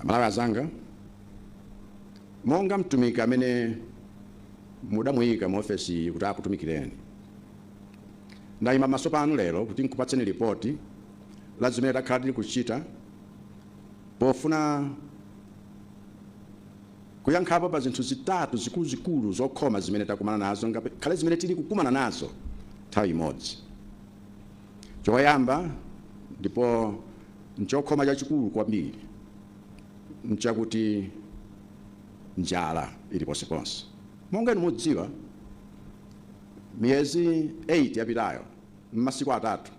Amalawi azanga, monga mtumiki amene mudamuika mu ofesi iyi kuti akutumikireni, ndaima pamaso panu lero kuti nkupatseni lipoti la zimene takhala tili kuchita pofuna kuyankhapo pa zinthu zitatu zikuluzikulu zokhoma zimene takumana nazo ngakhale zimene tili kukumana nazo nthawi imodzi. Choyamba ndipo n'chokhoma chachikulu kwambiri n'chakuti njala ili ponseponse. Monga inu mudziwa, miyezi 8 yapitayo, m'masiku atatu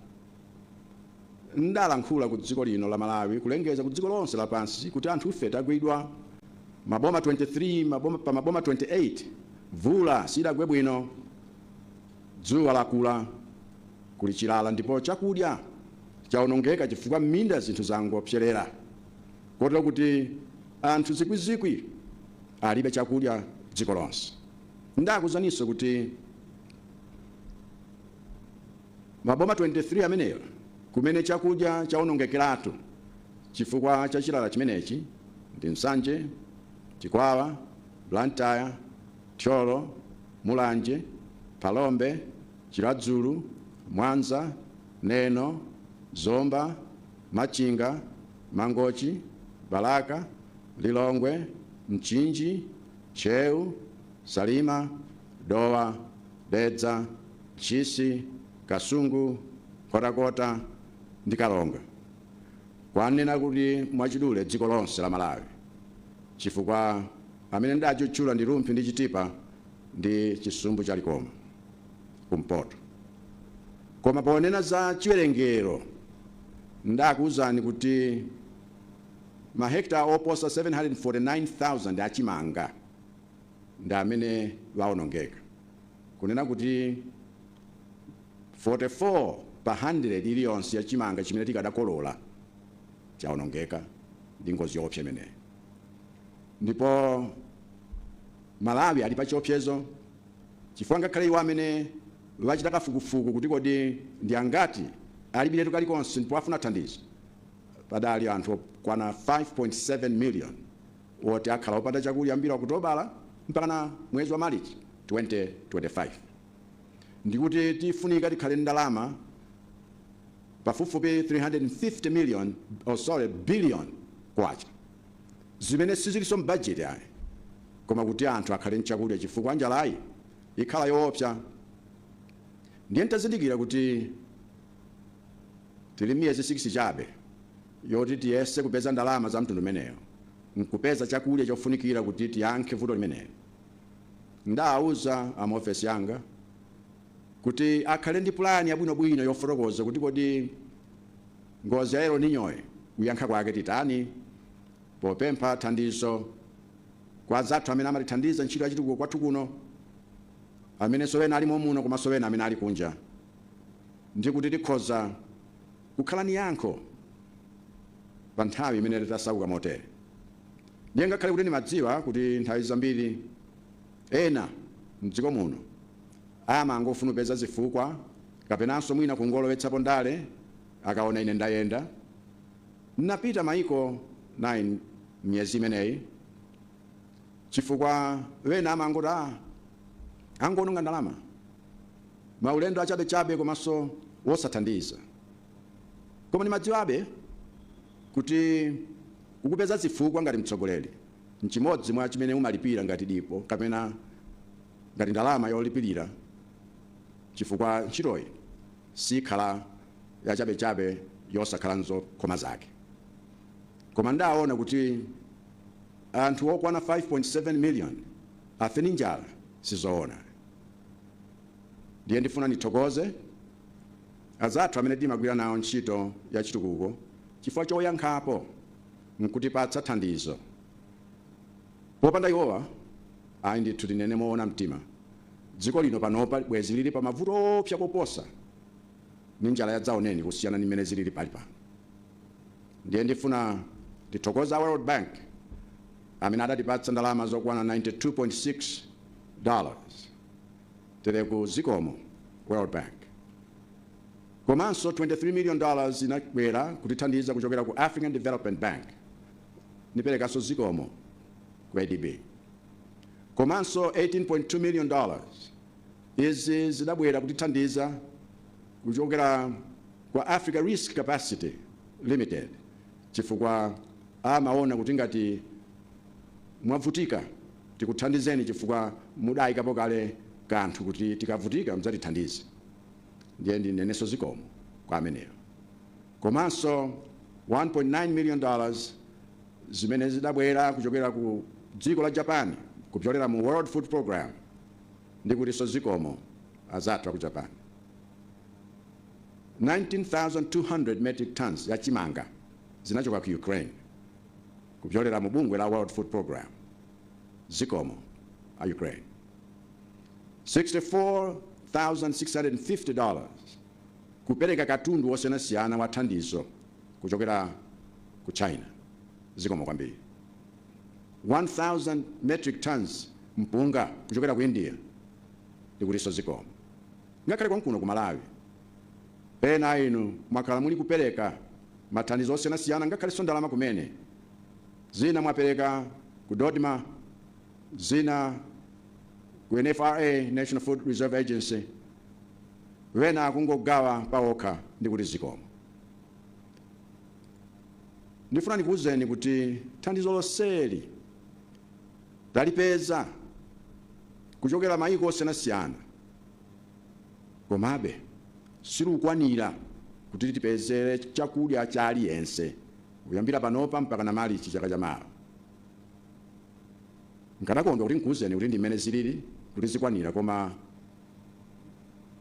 ndalankhula ku dziko lino la Malawi kulengeza ku dziko lonse lapansi kuti anthu ife tagwidwa. Maboma 23 pa maboma 28 mvula sidagwe bwino. Dzuwa lakula, kuli chilala ndipo chakudya chawonongeka chifukwa m'minda zinthu zangopserera, kotero kuti anthu zikwizikwi alibe chakudya dziko lonse. Ndakuuzaninso kuti maboma 23 amenewa kumene chakudya chawonongekeratu chifukwa cha chilala chimenechi ndi Nsanje, Chikwawa, Blantyre, Thyolo, Mulanje, Phalombe, Chiradzulu, Mwanza, Neno, Zomba, Machinga, Mangochi, Balaka, Lilongwe, Mchinji, Ntcheu, Salima, Dowa, Dedza, Ntchisi, Kasungu, Nkhotakota ndi Karonga. Kwanena kuti mwachidule dziko lonse la Malawi chifukwa. Amene sindidatchula ndi Rumphi ndi Chitipa ndi chisumbu cha Likoma, kumpoto. Koma ponena za chiwerengero, ndakuuzani kuti mahekitala oposa 749,000 a chimanga ndi amene waonongeka. Kunena kuti 44 pa handiredi iliyonse ya chimanga chimene tikadakolola chaonongeka ndi ngozi yoopsa imeneyi. ndipo Malawi ali pa chiopsezo chifukwa ngakhale iwo amene achita kafukufuku kuti kodi ndi angati alibiretu kalikonse ndipo afuna thandizo, padali anthu okwana 5.7 million woti akhala opanda chakudya kuyambira Okutobala mpakana mwezi wa Malichi 2025. Ndikuti tifunika tikhale ndi ndalama. pafupifupi K350 billion zimene sizilinso m'bajeti ayi koma kuti anthu akhale n'chakudya chifukwa njalayi ikhala yoopsa. Ndiye n'tazindikira kuti tili miyezi 6 chabe yoti tiyese kupeza ndalama zamtundu umenewu n'kupeza chakudya chofunikira kuti tiyankhe vuto limeneli, ndidauza a muofesi yanga. kuti akhale ndi pulani yabwinobwino yofotokoza kuti kodi ngozi ya El Niñoyi kuyankha kwake titani popempha thandizo kwa azathu amene amatithandiza ntchito ya chitukuko kwathu kuno amenenso ena ali momuno komanso ena amene ali kunja ndi kuti tikhoza kukhala ni yankho pa nthawi imene titasauka motere ndiye ngakhale kuti ndimadziwa kuti nthawi zambiri Ena m'dziko muno amangofuna kupeza zifukwa kapenanso mwina kungolowetsapo ndale akaona ine ndayenda, napita maiko 9 m'miyezi imeneyi chifukwa wena amangoti aah angoononga ndalama, maulendo achabechabe komanso wosathandiza. Koma ndimadziwabe kuti kukupeza zifukwa ngati mtsogoleri nchimodzi mwa chimene umalipira ngati dipo kapena ngati ndalama yolipirira chifukwa ntchitoyi sikhala yachabechabe yosakhala nzokhoma zake. Koma ndawona kuti anthu okwana 5.7 million afe ndi njala sizowona. Ndiye ndifuna ndithokoze azathu amene timagwira nawo ntchito yachitukuko chifukwa choyankhapo. nkutipatsa thandizo. Popanda iwowa, ayi ndithu tinene moona mtima, dziko lino panopa bwezi lili pa mavuto oopsa koposa ndi njala ya dzaoneni kusiyana ndi mmene zilili pali pano. Ndiye ndifuna ndithokoze a World Bank amene adatipatsa ndalama zokwana 92.6 dollars. Tereku zikomo World Bank. Komanso 23 million dollars inabwera kutithandiza kuchokera ku African Development Bank. Niperekanso zikomo ku ADB. Komanso 18.2 million dollars izi zidabwera kutithandiza kuchokera kwa Africa Risk Capacity Limited chifukwa amaona kuti ngati mwavutika tikuthandizeni chifukwa mudayikapo kale kanthu kuti tikavutika mudzatithandize. ndiye ndinenenso zikomo kwa ameneyo komanso 1.9 million dollars zimene zidabwera kuchokera ku dziko la Japan kupyolera mu World Food Program ndikutinso zikomo anzathu aku Japan 19,200 metric tons ya chimanga zinachoka ku Ukraine kupyolera mu bungwe la World Food Program zikomo a Ukraine $64,650 kupereka katundu wosiyanasiyana wa thandizo kuchokera ku China. Zikomo kwambiri. 1,000 metric tons mpunga kuchokera ku India. Ndikutinso zikomo. Ngakhale konkuno ku Malawi, ena a inu mwakhala muli kupereka mathandizo osiyanasiyana ngakhaleso ndalama kumene. Zina mwapereka ku Dodma. zina ku NFRA, National Food Reserve Agency, wena kungogawa pawokha ndikuti zikomo. Ndifuna ndikuwuzeni kuti thandizo lonseli talipeza kuchokera mayiko osiyanasiyana, komabe silukwanira kuti tipezere chakudya cha aliyense kuyambira panopa mpakana Malichi chaka chamawa. Nkanakondwa kuti nkuuzeni kuti ndi mmene zilili, kuti zikwanira, koma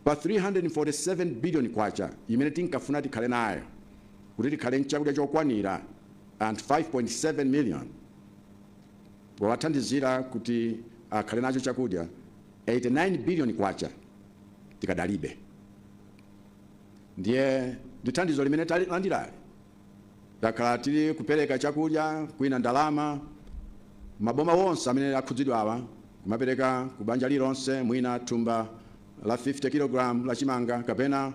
pa K347 biliyoni imene tinkafuna tikhale nayo kuti tikhale n'chakudya chokwanira anthu 5.7 miliyoni, powathandizira kuti akhale nacho chakudya, K89 biliyoni tikadalibe. Ndiye ndi thandizo limene talilandirali. Takhala tili kupeleka chakudya kwina ndalama maboma wonse amene akhudzidwawa kumapeleka ku banja lilonse mwina thumba la 50 kilogram la chimanga kapena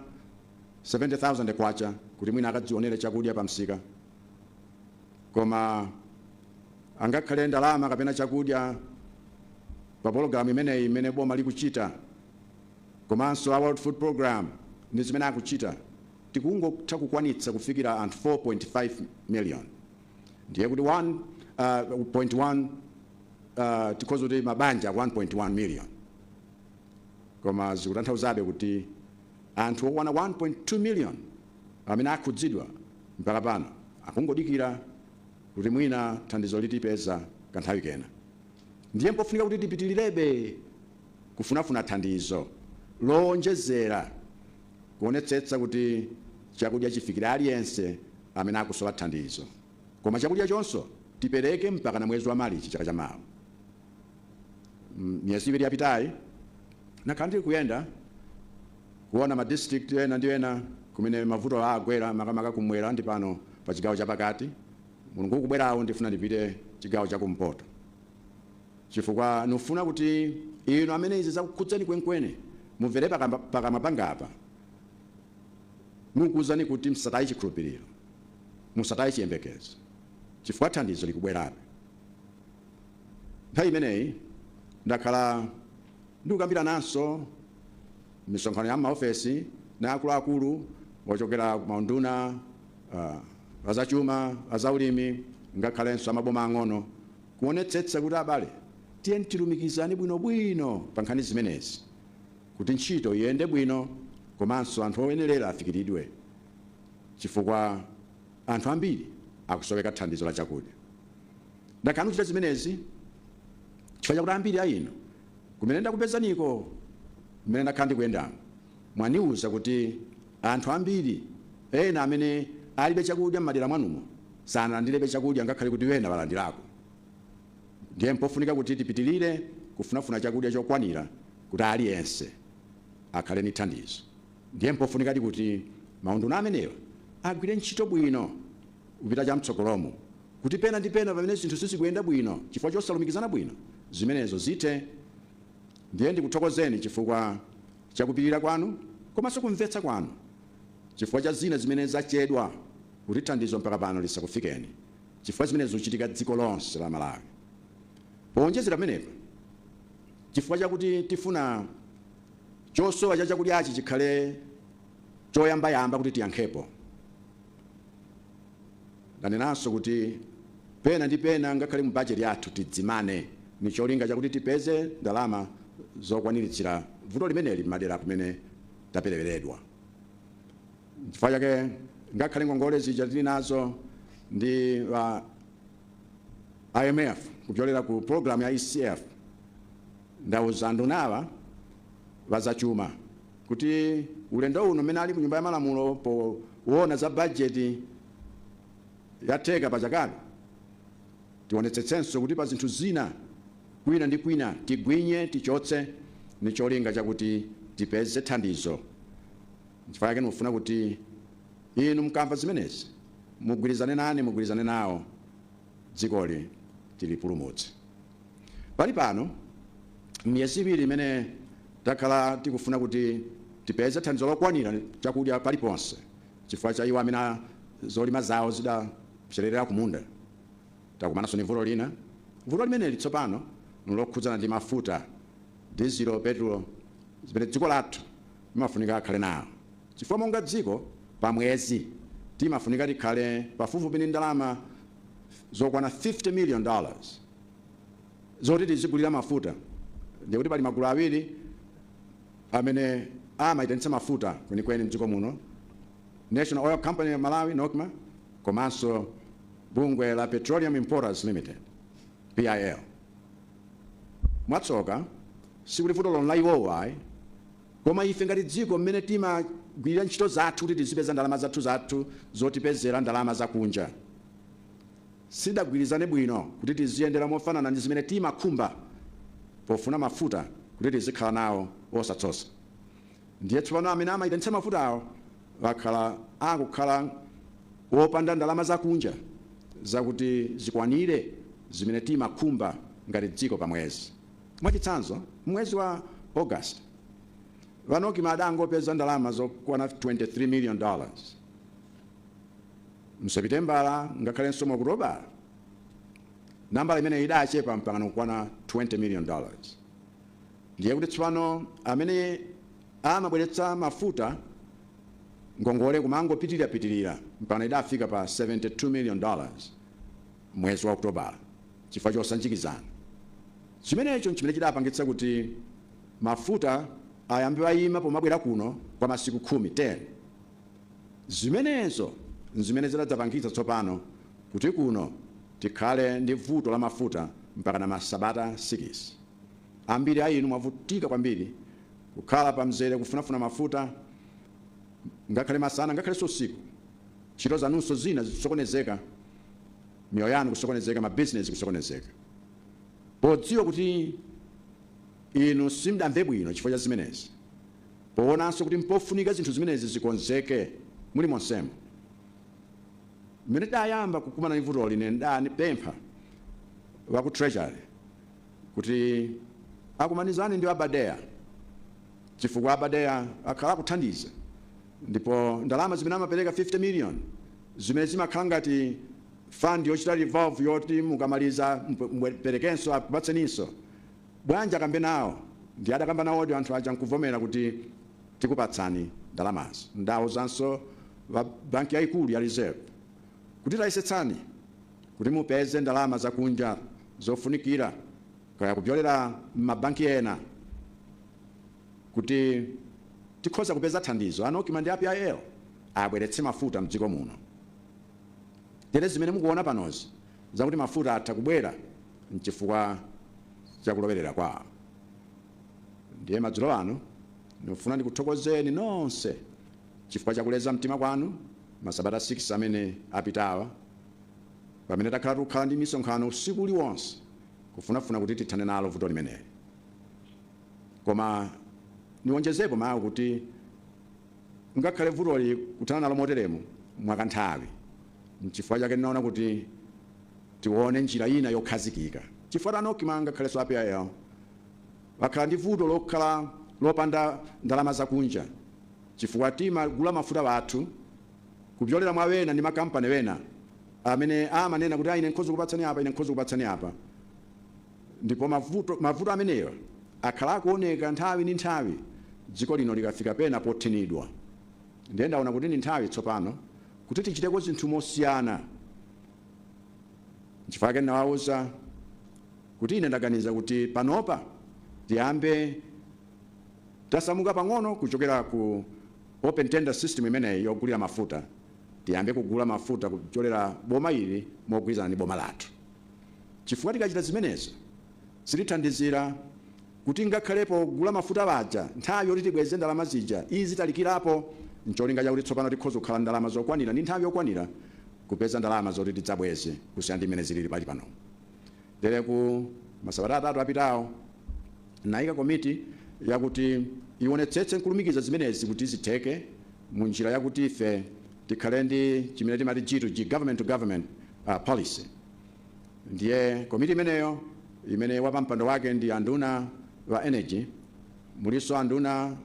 K70,000 kuti mwina akadzionele chakudya pa msika koma angakhale ndalama kapena chakudya pa pologalamu imeneyi imene boma likuchita komanso a World Food Program ndi zimene akuchita. tikungotha kukwanitsa kufikira anthu 4.5 million ndiye kuti 1.1 tikhoza kuti mabanja 1.1 million koma zikutanthauzabe kuti anthu okwana 1.2 million amene akhudzidwa mpaka pano akungodikira kuti mwina thandizo litipeza kanthawi kena ndiye mpofunika kuti tipitilirebe kufunafuna thandizo lowonjezera kuonetsetsa kuti chakudya chifikire aliyense amene akusowa thandizo koma chakudyachonso tipereke mpakana mwezi wa Malichi chaka cha mawa. Miyezi iwiri yapitayi ndakhala ndili kuyenda kuona ma district ena ndi ena kumene mavuto agwera makamaka kumwera ndi pano pa chigawo chapakati. Mulungu ukubwerawo ndifuna ndipite chigawo chakumpoto. Chifukwa ndifuna kuti inu amene izi zakukhudzani kwenikweni mumvere pakamwa pangapa, nukuuzani kuti musataye chikhulupiriro, musataye chiyembekezo, chifukwa thandizo likubwerabe. Nthawi imeneyi ndakhala ndikukambirananso m'misonkhano ya m'maofesi na akuluakulu ochokera ku maunduna a zachuma, a zaulimi, ngakhalenso a maboma ang'ono, kuonetsetsa kuti abale tiyeni tilumikizane bwinobwino pa nkhani zimenezi kuti ntchito iyende bwino komanso anthu oyenerera afikiridwe chifukwa anthu ambiri akusoweka thandizo la chakudya. Ndakhala ndikuchita zimenezi chifukwa chakuti ambiri a inu kumene ndakupezaniko, mmene ndakhala ndikuyendamu, Mwandiuza kuti anthu ambiri ena amene alibe chakudya mmadera mwanumo sanalandirebe chakudya ngakhale kuti ena alandirako. Ndiye mpofunika kuti tipitirire kufunafuna chakudya chokwanira kuti aliyense akhale ndi thandizo. Ndiye mpofunikadi kuti maunduna amenewa agwire ntchito bwino kupita chamtsogolomo kuti pena ndi pena pamene zinthu sizikuyenda bwino chifukwa chosalumikizana bwino, zimenezo zithe. Ndiye ndikuthokozeni chifukwa cha kupirira kwanu komanso kumvetsa kwanu chifukwa cha zina zimene zachedwa kuti thandizo mpaka pano lisakufikeni chifukwa zimenezi zichitika dziko lonse la Malawi. Powonjezera pamenepa, chifukwa chakuti tifuna chosowa cha chakudyachi chikhale choyambayamba kuti tiyankhepo, Ndanenanso kuti pena ndi pena ngakhale mu bajeti yathu tidzimane n'cholinga chakuti tipeze ndalama zokwaniritsira vuto limeneli m'madera kumene tapereweredwa. N'chifukwa chake ngakhale ngongole zija tili nazo ndi a IMF kupyolera ku pulogalamu ya ECF, Ndauza andunawa a zachuma kuti ulendo uno mmene ali ku nyumba ya malamulo poona za budget ya theka pa chakayi tionetsetsenso kuti pa zinthu zina kwina ndi kwina tigwinye, tichotse ndi cholinga chakuti tipeze thandizo. Nchifukwa chake ndikufuna kuti inu mukamva zimenezi mugwirizane nane, mugwirizane nawo. dzikoli tilipulumutse. Pali pano, m'miyezi iwiri imene takhala tikufuna kuti tipeze thandizo lokwanira chakudya paliponse chifukwa cha iwo amene zolima zawo zidapsererera kumunda, takumananso ndi vuto lina. Vuto limeneli tsopano nlokhudzana ndi mafuta, dizilo, petulo, zimene dziko lathu limafunika akhale nawo. chifukwa monga dziko, pa mwezi timafunika tikhale pafupifupi ndi ndalama zokwana 50 million dollars zoti tizigulira mafuta, ndiye kuti pali magulu awiri amene amaitanitsa mafuta kwenikweni m'dziko muno, National Oil Company of Malawi, Nocma, komanso bungwe la Petroleum Importers Limited, PIL. Mwatsoka, sikuti vutolo nla iwowo ayi, Koma ife ngati dziko mmene timagwilira ntchito zathu kuti tizipeza ndalama zathu zathu zotipezela ndalama zakunja sidagwilizane bwino kuti tiziyendela mofanana ndi zimene timakhumba pofuna mafuta kuti tizikhala nawo osatsosa ndiye tsopano amene amaitanitsa mafutawo akhala akukhala opanda ndalama zakunja zakuti zikwanile zimene timakhumba ngati dziko pa mwezi. Mwachitsanzo, m'mwezi wa August, a Nocma adangopeza ndalama zokwana 23 million dollars. Mu Sepitembala ngakhalenso mu Okutobala, nambala imeneyi idachepa mpakana kukwana 20 million dollars. Ndiye kuti tsopano amene amabweretsa mafuta ngongole kumangopitirira pitirira mpakana idafika pa 72 million dollars. m'mwezi wa Okutobala chifukwa chosanjikizana. Chimenecho nchimene chidapangitsa kuti mafuta ayambe aima pomabwera kuno kwa masiku 10. Zimenezo nzimene zidadzapangitsa tsopano kuti kuno tikhale ndi vuto la mafuta mpakana masabata sikisi. Ambiri a inu mwavutika kwambiri kukhala pamzere kufunafuna mafuta ngakhale masana ngakhalenso usiku. Ntchito zanunso zina zisokonezeka. miyoyo yanu kusokonezeka, mabizinesi kusokonezeka, podziwa kuti inu simdamve bwino chifukwa cha zimenezi, powonanso kuti mpofunika zinthu zimenezi zikonzeke mulimonsemo. Mmene tidayamba kukumana ndi vutoli, ine ndidapempha a ku Treasury kuti akumanizane ndi a BADEA chifukwa a BADEA akhala akuthandiza ndipo ndalama zimene amapereka 50 million zimene zimakhala ngati fund yochita revolve yoti mukamaliza muperekenso akupatseninso. Bwanji akambe nawo? Ndiye adakamba nawodi anthu aja n'kuvomera kuti, Tikupatsani ndalamazo. Ndawuzanso wa banki yayikulu ya Reserve kuti, Tayesetsani kuti mupeze ndalama zakunja zofunikira, kaya kupyolera m'mabanki ena, kuti tikhoza kupeza thandizo a Nocma ndi a PIL abweretse mafuta mdziko muno tere zimene mukuona panozi zakuti mafuta atha kubwera mchifukwa cha kulowerera kwawo ndiye madzulo ano ndikufuna ndikuthokozeni nonse chifukwa cha kuleza mtima kwanu masabata 6 amene apitawa pamene takhala tikukhala ndi misonkhano usiku uliwonse kufunafuna kuti tithane nalo vuto limeneli Koma niwonjezepo mawu kuti ngakhale vutoli kuthana nalo moteremu mwakanthawi, n'chifukwa chake ndinaona kuti tione njira ina yokhazikika. Chifukwa a Nocma ngakhalenso a PIL bakhala ndi vuto lokhala lopanda ndalama zakunja chifukwa timagula mafuta bathu kupyolera mwa bena ndi ma company bena amene amanena kuti ah ine nkhoza kukupatsani apa ine nkhoza kukupatsani apa. Ndipo mavuto amenewa akhala akuoneka nthawi ndi nthawi dziko lino likafika pena pothinidwa. Ndiye ndaona kuti ndi nthawi tsopano kuti tichiteko zinthu mosiyana. Nchifukwa chake ndinawauza kuti ine ndaganiza kuti panopa tiyambe tasamuka pang'ono kuchokera ku open tender system imeneyi yogulira mafuta, tiyambe kugula mafuta kuchokera boma ili mogwirizana ndi boma lathu. chifukwa tikachita zimenezi zitithandizira kuti ngakhale pogula mafuta paja nthawi yoti tibweze ndalama zija izitalikirapo n'cholinga chakuti tsopano tikhoza kukhala ndi ndalama zokwanira ndi nthawi yokwanira kupeza ndalama zoti tidzabweze kusiyana ndi mmene zilili pali panomu. Tereku masabata atatu apitawo ndinaika komiti yakuti ionetsetse n'kulumikiza zimenezi kuti zitheke mu njira yakuti ife tikhale ndi chimene timati G to G, government to government uh, policy. Ndiye komiti imeneyo imene wapampando wake ndi anduna wa energy, mulinso anduna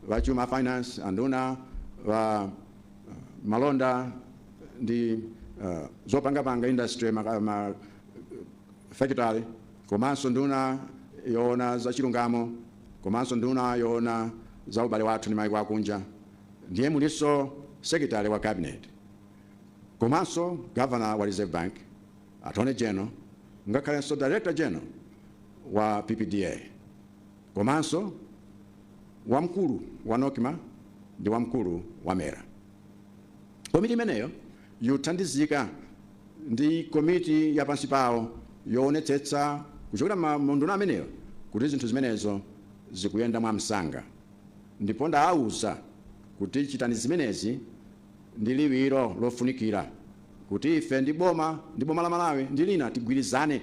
wa chuma finance, anduna wa uh, malonda ndi uh, zopangapanga industry ma, ma, factory komanso nduna yoona za chilungamo komanso nduna yoona za ubale wathu ndi maiko akunja Ndiye mulinso Secretary wa Cabinet, komanso Governor wa Reserve Bank, Attorney General, ngakhalenso Director General wa PPDA, komanso wamkulu wa Nocma ndi wamkulu wa mera. Komiti imeneyo yothandizidwa ndi komiti ya pansi pawo yoonetsetsa kuchokera m'maunduna amenewa kuti zinthu zimenezo zikuyenda mwamsanga. Ndipo ndawauza kuti chitani zimenezi ndi liwiro lofunikira kuti ife ndi boma ndi boma la Malawi ndi lina tigwirizane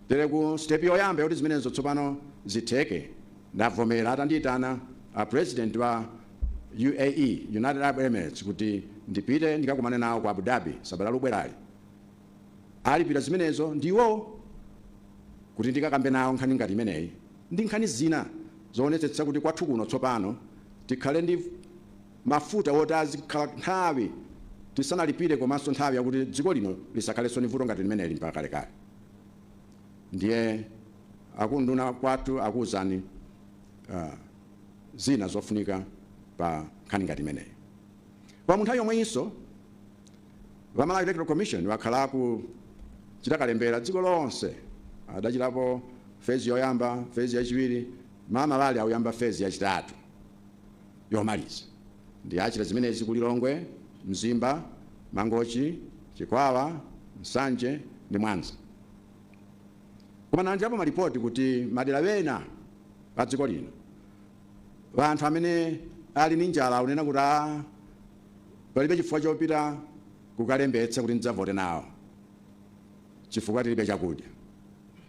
tero step yoyamba yoti zimenezo tsopano zitheke ndavomera atandiitana a president wa UAE, United Arab Emirates, kuti ndipite ndikakumane nawo ku Abu Dhabi sabata likubwerali. Alipira zimenezo ndiwo kuti ndikakambe nawo nkhani ngati imeneyi ndi nkhani zina zoonetsetsa kuti kwathu kuno tsopano tikhale ndi mafuta woti azikhala nthawi tisanalipire komanso nthawi yakuti dziko lino lisakhalenso ndi vuto ngati limeneli mpaka kalekale. Ndiye akunduna kwathu akuuzani uh, zina zofunika pa nkhani ngati imeneyi. Koma mu nthawi yomweyinso A Malawi Electoral Commission akhala akuchita kalembera dziko lonse adachitapo fezi yoyamba fezi yachiwiri mmamawa uli akuyamba fezi yachitatu yomaliza ndiye achita zimenezi ku Lilongwe Mzimba Mangochi Chikwawa Nsanje ndi Mwanza koma ndalandirapo malipoti kuti madera wena pa dziko lino anthu amene ali ni njala akunena kuti a Palibe chifukwa chopita kukalembetsa kuti ndidzavote nawo chifukwa tilibe chakudya.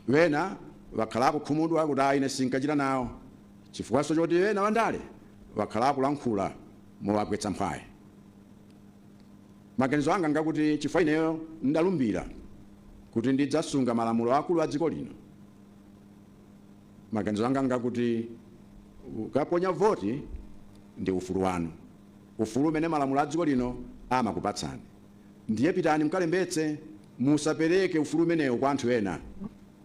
Wena wakhala akukhumudwa kuti ayi ine sinkachita nawo chifukwanso choti ena wandale wakhala akulankhula mowagwetsa mphwayi. Maganizo anga ngakuti chifukwa ineyo ndalumbira kuti ndidzasunga malamulo akulu a dziko lino, maganizo anga ngakuti kukaponya voti ndi ufulu wanu. ufulu umene malamulo a dziko lino amakupatsani. Ndiye pitani mkalembetse, musapereke ufulu umenewo kwa anthu ena.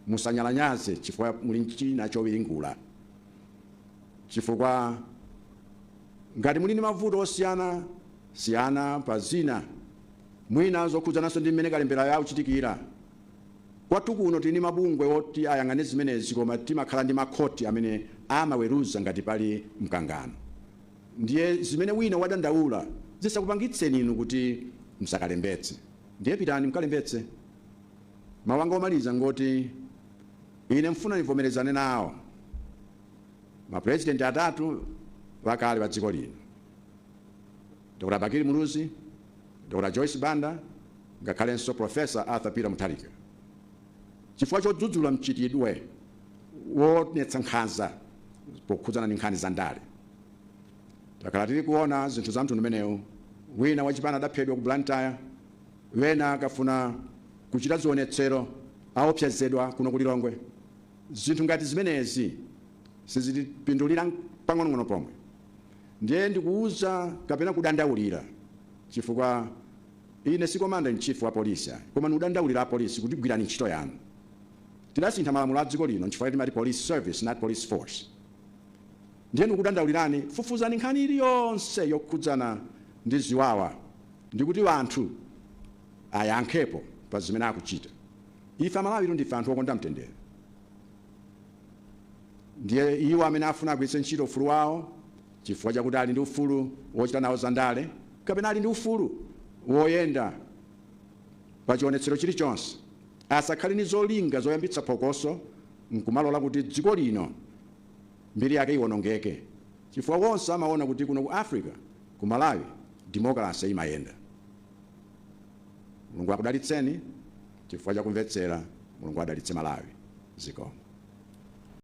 Musanyalanyaze chifukwa muli ndi china chowiringula. Chifukwa ngati muli ndi mavuto osiyana siyana pa zina, mwina zokhudzananso ndi mmene kalemberayo akuchitikira, kwathu kuno tili ndi mabungwe oti ayang'ane zimenezi koma timakhala ndi makhoti amene amaweruza ngati pali mkangano. Ndiye zimene wina wadandaula zisakupangitseni inu kuti msakalembetse. Ndiye pitani mkalembetse. Mau anga omaliza ngoti ine mfuna nivomerezane nawo ma president atatu akale a dziko lino, Dr. Bakili Muluzi, Dr. Joyce Banda ngakhalenso Prof. Arthur Peter Mutharika. chifukwa chodzudzula mchitidwe woonetsa nkhanza pokhudzana ndi nkhani za ndale. Takhala tili kuona zinthu za mtundu umenewu, wina wachipani adaphedwa ku Blantyre, wena akafuna kuchita zionetsero aopsezedwa kuno ku Lilongwe. Zinthu ngati zimenezi sizitipindulira pang'onong'ono pomwe, ndiye ndikuuza kapena kudandaulira chifukwa Ine si commander in chief wa police ayi koma ndikudandaulira a police kuti gwirani ntchito yanu. Tidasintha malamulo a dziko lino nchifukwa timati police service not police force. Ndiye ndikukudandaulirani fufuzani nkhani iliyonse yokhudzana ndi ziwawa ndikuti wanthu ayankhepo pa zimene akuchita. Ife Amalawi ndife anthu okonda mtendere. Ndiye iwo amene afuna agwiritse ntchito ufulu wawo. chifukwa chakuti ali ndi ufulu wochita nawo zandale kapena ali ndi ufulu woyenda pachionetsero chilichonse, asakhale ndi zolinga zoyambitsa phokoso n'kumalola kuti dziko lino mbiri yake iwonongeke chifukwa onse amaona kuti kuno ku Africa, ku Malawi, demokalase imayenda. Mulungu akudalitseni chifukwa cha kumvetsera. Mulungu adalitse Malawi. Zikomo.